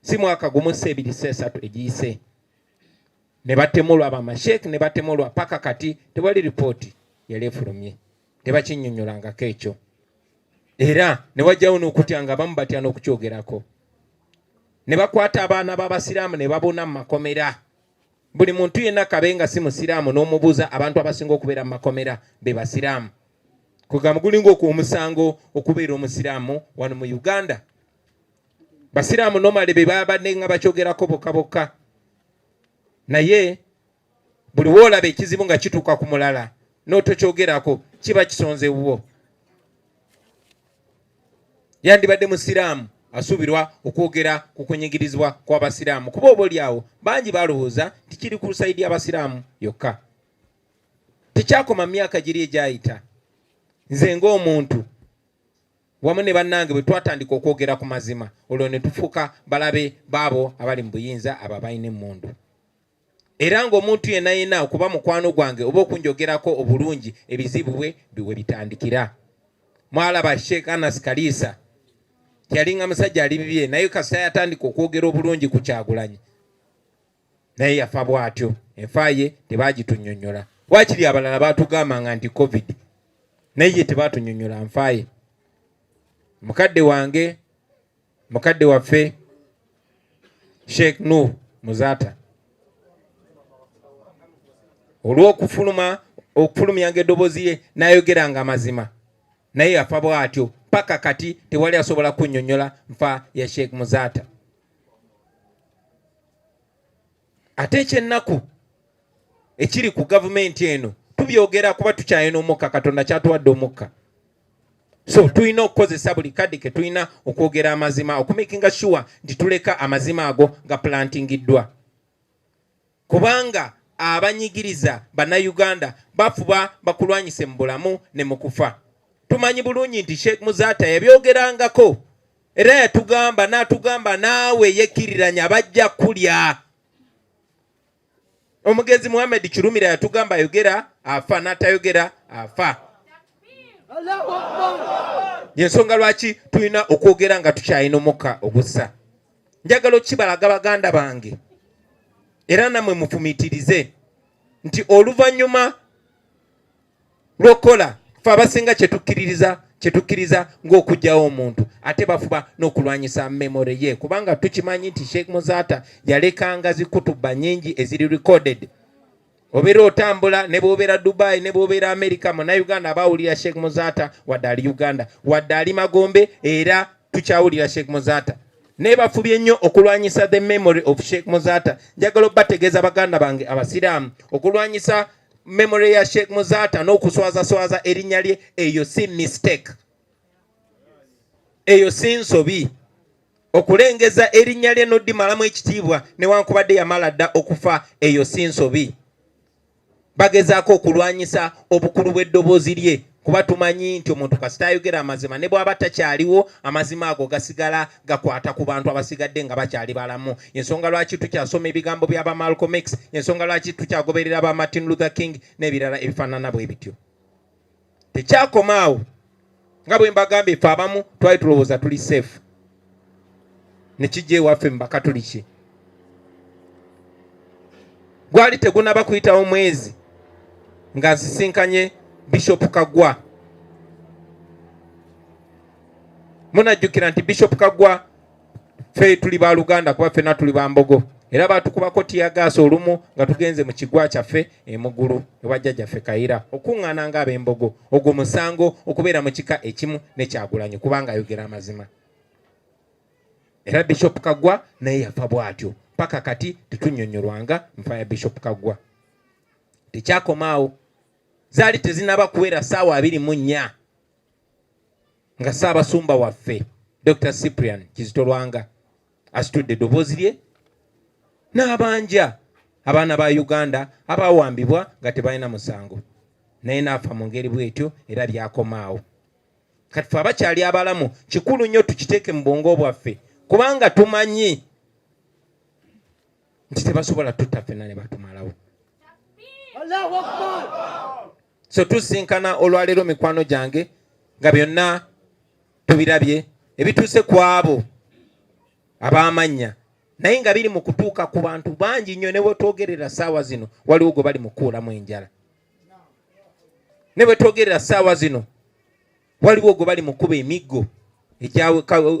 si mwaka gumu si ebiri si esatu egiyise ne batemulwa bamasheek ne batemulwa paka kati tewali ripooti yali efulumye tebakinyonyolangako ekyo era ne wajjawo n'okutya nga abamu batya n'okukyogerako ne bakwata abaana b'abasiraamu ne babona mu makomera buli muntu yenna kabe nga si musiraamu n'omubuuza abantu abasinga okubeera mu makomera be basiraamu kugamba gulinga okuomusango okubeera omusiraamu wano mu uganda basiraamu nomale be babadde nga bakyogerako bokka bokka naye buli woolaba ekizibu nga kituuka ku mulala n'otokyogerako kiba kisonze wuwo yandibadde musiraamu asuubirwa okwogera ku kunyigirizibwa kw'abasiraamu kuba oba olyawo bangi balowooza nti kiri ku lusayidi abasiraamu yokka tekyakoma myaka giri egyayita nze ng'omuntu wamu ne bannange bwe twatandika okwogera ku mazima olwo ne tufuuka balabe baabo abali mu buyinza abo abalina emmundu era ng'omuntu yenna yenna okuba mukwano gwange oba okunjogerako obulungi ebizibu bwe biwe bitandikira mwalaba sheikh anas kaliisa yalinga musajja ali bibye naye kasita yatandika okwogera obulungi ku kyagulanyi naye yafa bwatyo enfa ye tebagitunyonyola wakiri abalala batugambanga nti covid naye ye tebatunyonyola nfa ye mukadde wange mukadde waffe sheikh nu muzata olwokufuluma okufulumyanga edobozi ye nayogeranga amazima naye yafa bwatyo paka kati tewali asobola kunyonyola nfa ya sheikh muzata ate ekyennaku ekiri ku gavumenti eno tubyogera kuba tukyalina omukka katonda kyatuwadde omukka so tulina okukozesa buli kadde ke tulina okwogera amazima okumakinga sure nti tuleka amazima ago nga plantingiddwa kubanga abanyigiriza bannayuganda bafuba bakulwanyise mu bulamu ne mu kufa tumanyi bulungi nti sheikh muzata yabyogerangako Era yatugamba n'atugamba naawe yekkiriranya bajja kulya. Omugenzi Muhammad Kirumira yatugamba ayogera afa n'atayogera afa. Yensonga lwaki tulina okwogera nga tukyalina omukka ogussa. Njagala okukibalaga baganda bange era namwe mufumiitirize nti oluvannyuma lwokola fe abasinga kyetukkiririza kyetukkiriza ng'okugyawo omuntu ate bafuba n'okulwanyisa memore ye kubanga tukimanyi nti sheikh muzaata yalekanga zikutuba nyingi eziri recorded obeera otambula ne bwobeera dubai ne bwobeera america munauganda abawulira sheikh muzaata wadde ali uganda wadde ali magombe era tukyawulira sheikh muzaata naye bafubye nnyo okulwanyisa the memory of sheikh muzaata njagala obategeeza baganda bange abasiraamu okulwanyisa memory ya Sheikh Muzaata n'okuswazaswaza erinnya lye, eyo si mistake, eyo si nsobi. Okulengeza erinnya lye n'oddimalamu ekitiibwa newankubadde yamala dda okufa, eyo si nsobi. Bagezaako okulwanyisa obukulu bw'eddoboozi lye kuba tumanyi nti omuntu kasita ayogera amazima ne bwaba takyaliwo amazima ago gasigala gakwata ku bantu abasigadde nga bakyali balamu ensonga lwaki tukyasoma ebigambo bya ba Malcolm X ensonga lwaki tukyagoberera ba Martin Luther King n'ebirala ebifaanana bwe bityo tekyakomaawo nga bwe mbagambye ffe abamu twali tulowooza tuli safe ne kijja ewaffe mu bakatuliki gwali tegunaba kuyitawo mwezi nga nsisinkanye bishop kagwa munajjukira nti bishop kagwa fe tuli baluganda kuba fena tuli bambogo era batukubako tiyagaasa olumu nga tugenze mu kigwa kyaffe emugulu ewa jjajjaffe kayira okuŋŋaana nga ab'embogo ogwo musango okubeera mu kika ekimu ne kyagulanyi kubanga ayogera amazima era bishop kagwa naye yafa bw'atyo paka kati tetunyonyolwanga nfa ya bishop kagwa tekyakomaawo zaali tezinaba kuwera saawa abiri mu nnya nga saabasumba waffe dr cyprian kizitolwanga asitudde eddoboozi lye n'abanja abaana ba Uganda abawambibwa nga tebalina musango naye n'afa mu ngeri bw'etyo era byakomaawo kati fe abakyali abalamu kikulu nnyo tukiteeke mu bwongo bwaffe kubanga tumanyi nti tebasobola tutta ffena ne batumalawo so tusinkana olwaleero mikwano gyange nga byonna tubirabye ebituuse ku abo ab'amannya naye nga biri mu kutuuka ku bantu bangi nnyo ne bwe twogerera ssaawa zino waliwo gwe bali mu kukuulamu enjala ne bwe twogerera ssaawa zino waliwo gwe bali mu kuba emiggo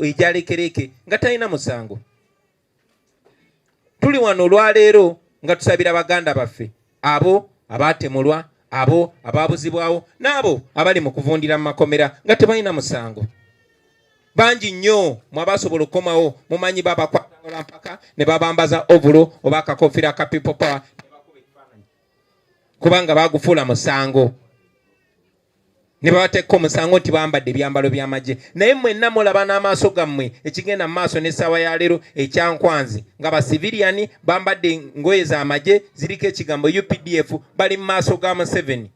egyalekereke nga talina musango tuli wano olwaleero nga tusabira baganda baffe abo abaatemulwa abo abaabuzibwawo n'abo abali mu kuvundira mu makomera nga tebalina musango bangi nnyo mwabasobola okukomawo mumanyi babakwatala mpaka ne babambaza ovulo oba akakofira ka people power kubanga bagufuula musango ne babateeka omusango nti bambadde ebyambalo by'amagye naye mwenna mulaba n'amaaso gammwe ekigenda mu maaso n'essaawa ya leero ekyankwanzi nga basiviliyani bambadde ngoye za magye ziriko ekigambo updf bali mu maaso ga museveni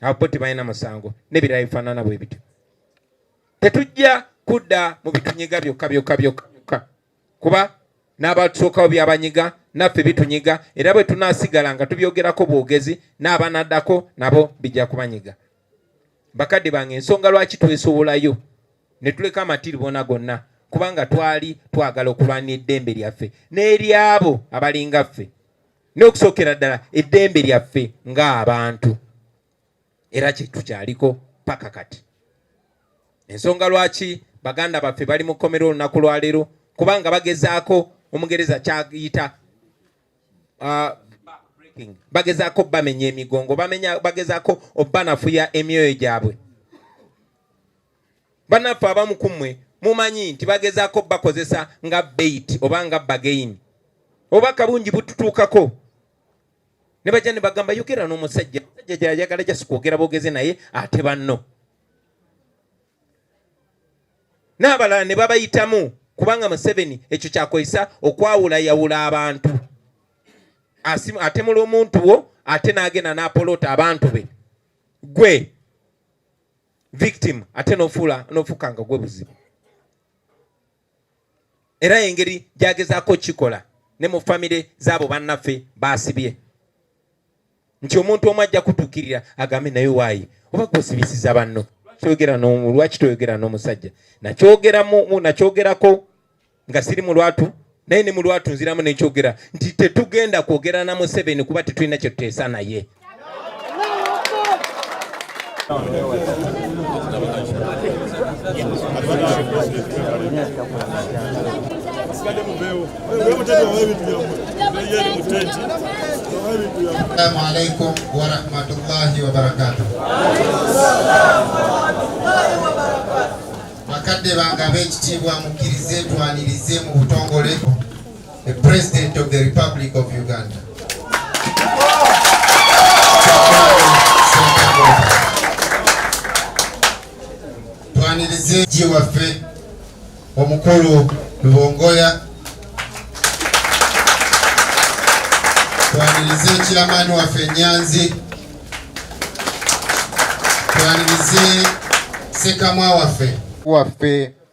abo tebalina musango n'ebirala bifaanana bwe bityo tetujja kudda mu bitunyiga byokka byokka byokka kuba n'abatusookawo byabanyiga naffe bitunyiga era bwe tunaasigala nga tubyogerako bwogezi n'abanaddako nabo bijja kubanyiga bakadde bange ensonga lwaki twesowolayo ne tuleka amatiribona gonna kubanga twali twagala okulwanira eddembe lyaffe n'eryabo abalinga ffe n'okusookera ddala eddembe lyaffe ng'abantu era kyetukyaliko paka kati. Ensonga lwaki baganda baffe bali mu kkomera olunaku lwaleero kubanga bagezaako omugereza kyayita uh, bagezaako bamenya emigongo bamenya bagezaako obanafuya emyoyo gyabwe banaffe abamu ku mmwe mumanyi nti bagezaako bakozesa nga bait oba nga bagain oba kabungi bututuukako ne bajja ne bagamba yogera n'omusajja musajja gyayagala jasi kwogera bogeze naye ate banno n'abalala ne babayitamu kubanga museveni ekyo kyakozesa okwawulayawula abantu atemula omuntu wo ate n'agenda n'apoloota abantu be gwe victim ate nofuula nofuuka nga gwe buzibu era engeri gyagezaako kikola ne mu famire zaabo bannaffe baasibye nti omuntu omu ajja kutukirira agambe naye waayi oba gwosibisiza banno lwaki toyogera n'omusajja nakyogerako nga siri mu lwatu naye ne mu lwatu nziramu nekyogera nti tetugenda kwogera na museveni kuba tetulina kyetuteesa naye Assalamu alaikum warahmatullahi wabarakatuh. Bakadde bange ab'ekitiibwa mukkirize twanirize mu butongole The President of the Republic of Uganda. Twanirize ji waffe omukulu Lubongoya. Twanirize ekilamani waffe Nyanzi. Twanirize sekamwa waffe waffe